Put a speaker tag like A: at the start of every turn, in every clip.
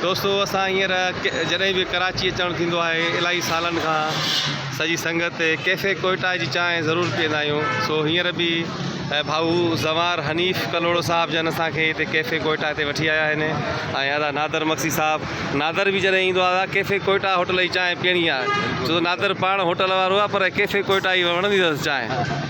A: دوستو اسان هينئر جڏهن به ڪراچي اچڻ ٿيندو آهي الائي سالن کان سڄي سنگت ڪيفي ڪوئٽا جي چانهه ضرور پيئندا آهيون سو هينئر به ڀائو زنوار حنيف ڪلهوڙو صاحب جن اسان کي هتي ڪيفي ڪوئٽا تي وٺي آيا آهن ۽ ادا نادر مگسي صاحب نادر به جڏهن ايندو آهي ڪيفي ڪوئٽا هوٽل جي چانهه پيئڻي آهي سو نادر پاڻ هوٽل وارو آهي پر ڪيفي ڪوئٽا جي وڻندي اٿس چانهه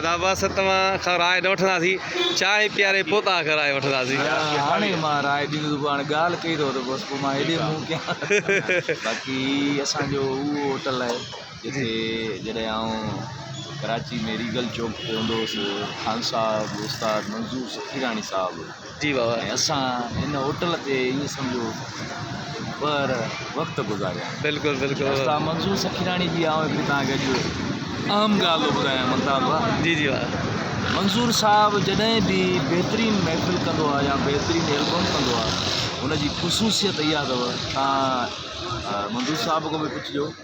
A: ادا بس توهان کان راء نه وٺنداسين چانهه پياري پوء توهان کان راء وٺنداسين هاڻي مان راء
B: ڏيندس تو هاڻي ڳالهه ڪئي اٿو ته بس پوء مان هيڏي منهن ڪيان باقي اسان جو اهو هوٽل آهي جتي جڏهن آئون ڪراچي ۾ ريگل چوڪ تي هوندو هوس خان صاحب استاد منظور سخيراڻي صاحب جي واهه ۽ اسان
A: ان
B: هوٽل تي ائين سمجهو ٻهر وقت گذاريا. بلڪل بلڪل. استاد
A: منظور سکيراڻي
B: جي آئون هڪڙي توهان کي اڄ اهم ڳالهه ٿو ٻڌايان ملتان ڀاء. جي جي واهه.
A: منظور
B: صاحب جڏهن به بهترين محفل ڪندو آ يا بهترين البم ڪندو آ ان جي خصوصيت اها اٿو توهان منظور صاحب کان به پڇجو.